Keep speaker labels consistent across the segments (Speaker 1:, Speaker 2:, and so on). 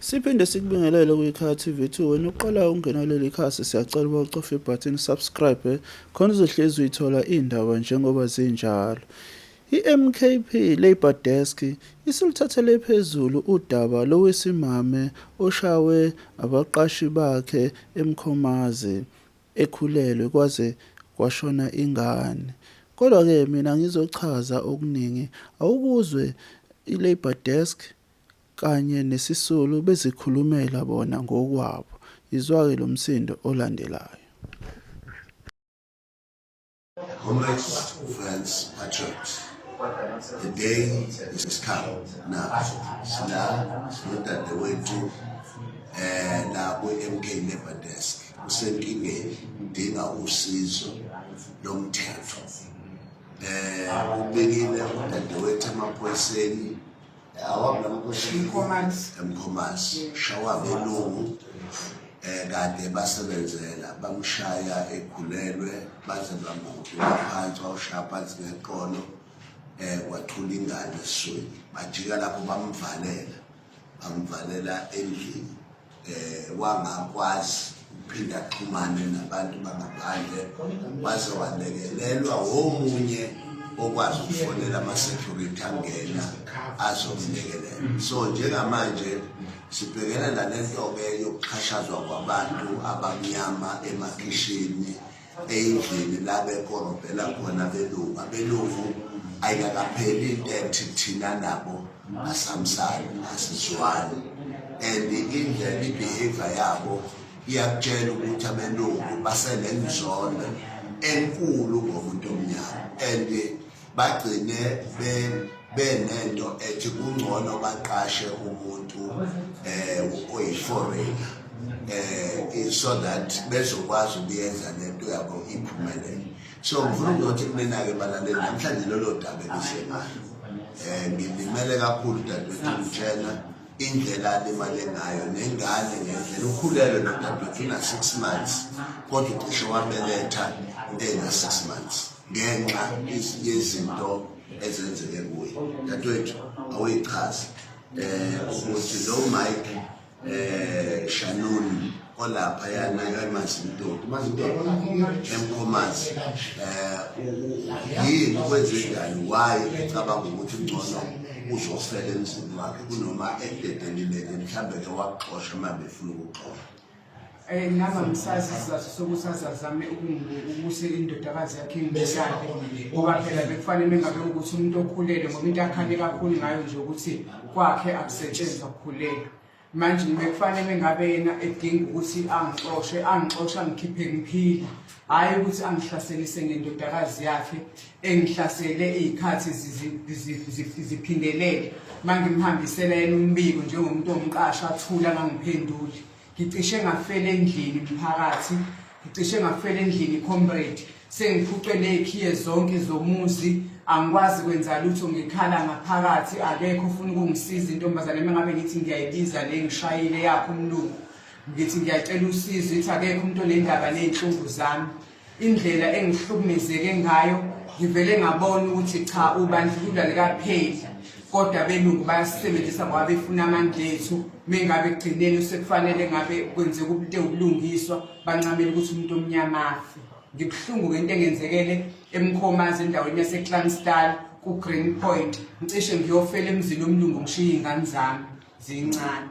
Speaker 1: Siphinde sikubingelele kwikhaya TV 2 wena uqalayo ukungena kuleli khasi siyacela uba ucofe ibhathini subscribe khona uzohlezi uyithola iy'ndaba njengoba zinjalo i-MKP Labour Desk isiluthathele phezulu udaba lowesimame oshawe abaqashi bakhe eMkhomazi ekhulelwe kwaze kwashona ingane kodwa-ke mina ngizochaza okuningi awukuzwe i-Labour Desk kanye nesisulu bezikhulumela bona ngokwabo, yizwa-ke lo msindo olandelayo.
Speaker 2: Comrades uFrans Patriot, the day is come now sina nodadewethu um nabo i-mk labour desk usenkingeni udinga usizo lomthetho um ubikile udadewethu emaphoyiseni emkhomasi shawa belungu eh kade basebenzela bamshaya ekhulelwe baze bamhudula phansi wawushaya phansi ngeqolo eh kwathula ingane esweni bajika lapho bamvalela bamvalela endlini eh wangakwazi ukuphinda axhumane nabantu bangaphandle waze walekelelwa womunye okwazi ukufonela ama-security angena azomlekelela so njengamanje sibhekene nalento-ke yokuxhashazwa kwabantu abamnyama emakhishini eyindlini la bekorobhela khona abelungu abelungu ayikakapheli into ethi thina nabo asamsani asizwani and indlela ibehavior yabo iyakutshela ukuthi abelungu basenenzondo enkulu ngomuntu omnyama and bagcine benento ethi kungcono baqashe umuntu eh oyiforeign eh so that bezokwazi ukuyenza lento yabo iphumelele so ngifuna ukuthi mina ke balaleli namhlanje lolo daba elisengalo eh ngilimele kakhulu dadewethu ngitshela indlela alimale ngayo nengane ngendlela ukhulelwe nodadewethu una-six months kodwa ucishe wabeletha ena-six months ngenxa yezinto ezenzeke kuye dadewethu awuyichazi eh ukuthi lo Mike eh Shannon olapha yana emazindoda mazindoda emkhomazi eh yini kwenze njani why ecabanga ukuthi ngcono uzofela emzini wakhe kunoma ededelile mhlambe ke waxosha uma befuna ukuxosha Eh, ngaba ngisazi
Speaker 3: isizathu sokuthi azazame ukuse indodakazi yakhe ngimshade ngoba phela bekufanele engabe ukuthi umuntu okhulele ngoba into akhale kakhulu ngayo nje ukuthi kwakhe akusetshenzwa kukhulelwa manje bekufanele ngabe yena edinga ukuthi angixoshe angixoshe angikhiphe ngiphila hhayi ukuthi angihlaselise ngendodakazi yakhe engihlasele iy'khathi ziphindelele uma ngimhambisela yena umbiko njengomuntu omqasho athula angangiphenduli ngicishe ngafela endlini mphakathi ngicishe ngafela endlini comrade sengiphucwe nekhiye zonke zomuzi angikwazi kwenza lutho ngikhala ngaphakathi akekho ufuna ukungisiza intombazane uma ngabe ngithi ngiyayibiza le ngishayile yakho umlungu ngithi ngiyacela usizo ithi akekho umuntu onendaba ney'nhlungu zami indlela engihlukumezeke ngayo ngivele ngabona ukuthi cha ubandlululo likapheli kodwa belungu bayasisebenzisa ngoba befuna amandla ethu mengabe kugcineni sekufanele ngabe kwenzeka umuntu ewubulungiswa bancamela ukuthi umuntu omnyama afe ngibuhlungu ngento engenzekele emkhomazi endaweni yaseclanstal kugreen point ngicishe ngiyofela emzini omlungu ngishiye iy'ngane zami ziyincane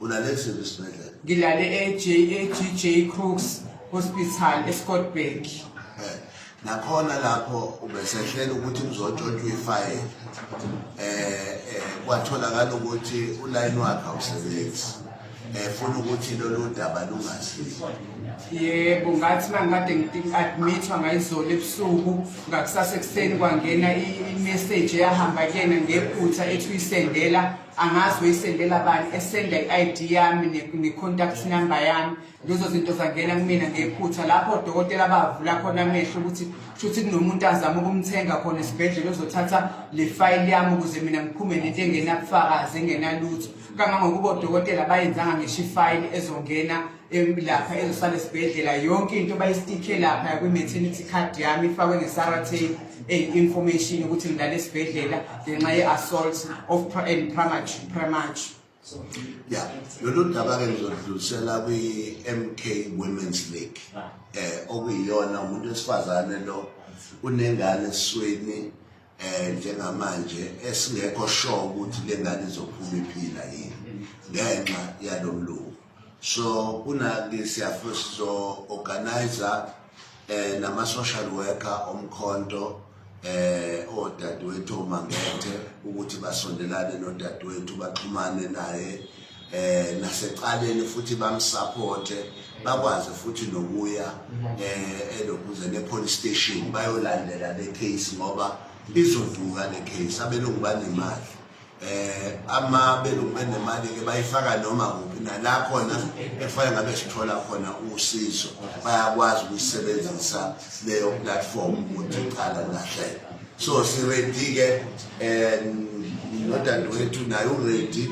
Speaker 3: ulale
Speaker 2: kusiphi isibhedlela ngilale
Speaker 3: e-jagj crooks hospital escottburg eh,
Speaker 2: nakhona lapho ubesehlela ukuthi kuzotshontshwa ifayela um eh, eh, kwatholakala ukuthi ulayini wakhe awusebenzi um funa ukuthi lolu daba lungasizi yebo
Speaker 3: ngathi uma ngikade ngi-admithwa ngayizolo ebusuku ngakusasa ekuseni kwangena i-message eyahamba kuyena ngephutha ethi uyisendela angazi uyisendela bani esenda i-id yami ne-contact number yami lezo zinto zangena kumina ngephutha lapho odokotela bavula khona amehlo ukuthi shuthi kunomuntu azama ukumthenga khona esibhedlela ozothatha le fayili yami ukuze mina ngiphume nento engenabufakazi engenalutho kangangokuba odokotela bayenzanga ngisho ifayili ezongena lapha ezosala esibhedlela yonke into bayistikhe lapha kwi-maternity card yami ifakwe nge-sarate information ukuthi ngilale esibhedlela ngenxa ye-assault of and premature
Speaker 2: ya lolu daba-ke ngizodlulisela kwi-mk women's league um okuyiyona umuntu wesifazane lo unengane esweni eh njengamanje esingekho sure ukuthi lengane izophuma iphila yini ngenxa yalomlungu so kunaki siyafuna sizo organizer eh nama social worker omkhonto eh odadewethu omangethe ukuthi basondelane nodadewethu baxhumane naye eh nasecaleni futhi bamsupport bakwazi futhi nokuya eh elokuze ne police station bayolandela le case ngoba izovuka le case abelungu banemali eh ama belungu benemali ke bayifaka noma kuphi nala khona efanele ngabe sithola khona usizo bayakwazi ukusebenzisa leyo platform ukuthi iqala lahleka so siready ke um nodadewethu naye uready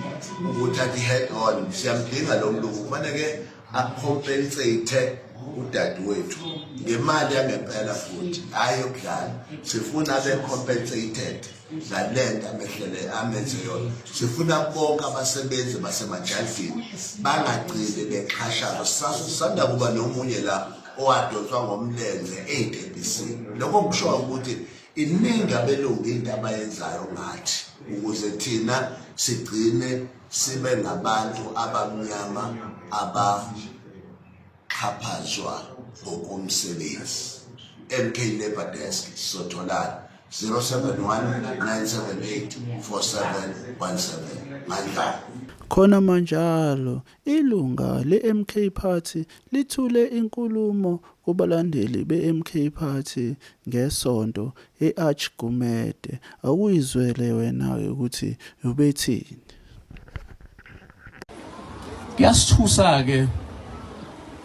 Speaker 2: ukuthi athi head on siyamdinga lo mntu kufane ke acompensate udadewethu ngemali yangempela futhi hhayi yokudlala sifuna be-compensated ngale nto amehlele amenze yona sifuna bonke abasebenzi basemajaldini bangagcini bexhashazwa sisanda kuba nomunye la owadonswa ngomlenze ey'tebhisini lokho kusho ukuthi iningi abelungu into abayenzayo ngathi ukuze thina sigcine sibe ngabantu abamnyama abaxhaphazwa ngokomsebenzi mk labor desk sizotholana 0719784717 mandlana khona
Speaker 1: manjalo Ilunga leMK Party lithule inkulumo kubalandeli beMK Party ngeSonto e-Arch Gumede. Awuyizwele wena-ke ukuthi ubethini.
Speaker 4: Kuyasithusa-ke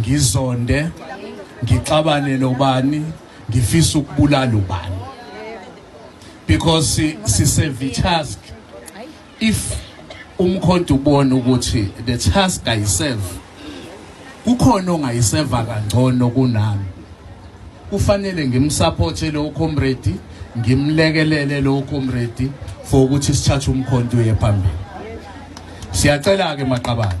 Speaker 4: ngizonde ngixabane nobani ngifisa ukubulala ubani because sisevi task if umkhonto ubona ukuthi the task ayiserve kukhona ongayiseva kangcono kunami kufanele ngimsupporte lo comrade ngimlekelele lo comrade for ukuthi sithathe umkhonto uye phambili siyacela ke maqabane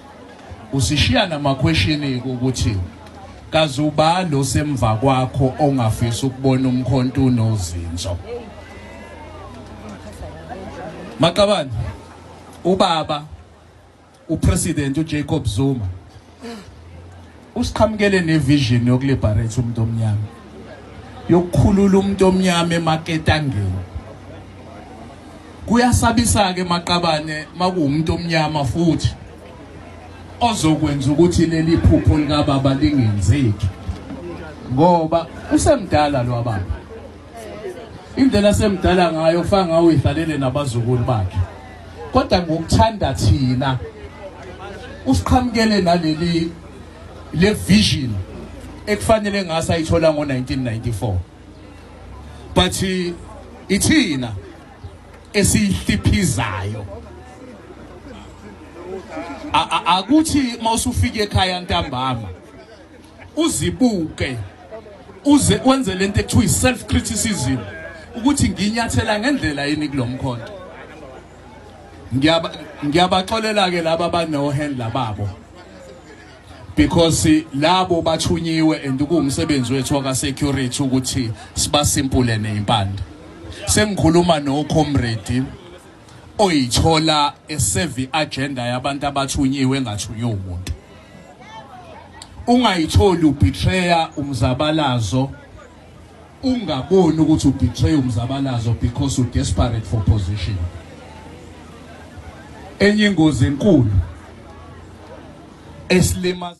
Speaker 4: Usishiya namakhweshini ukuthi kazi ubani osemva kwakho ongafisa ukubona umkhonto unozinzo. Maqabane ubaba upresident uJacob Zuma Usiqhamukele nevision yokuliberate umuntu omnyama. Yokukhulula umuntu omnyama emaketangeni. Kuyasabisa ke maqabane makuwumuntu omnyama futhi ozokwenza ukuthi leli phupho likababa lingenzeki ngoba usemdala lo baba indlela semdala ngayo kufana ngawo idlalele nabazukulu bakhe kodwa ngokuthanda thina usiqhamukele naleli le vision ekufanele ngase ayithola ngo-1994 but ithina esiyihliphizayo akuthi mawusufika ekhaya ntambama uzibuke uze wenze lento ekuthiwa i-self criticism ukuthi nginyathela ngendlela yini kulomkhonto ngiyaba ngiyabaxolela ke laba bano hand lababo because labo bathunyiwe and kuwumsebenzi wethu waka security ukuthi sibasimple neimpande sengikhuluma no comrade oyithola esevi agenda yabantu abathunyiwe engathunye umuntu ungayitholi ubetrayer umzabalazo ungaboni ukuthi ubetray umzabalazo because u desperate for position enye ingozi enkulu esilimaza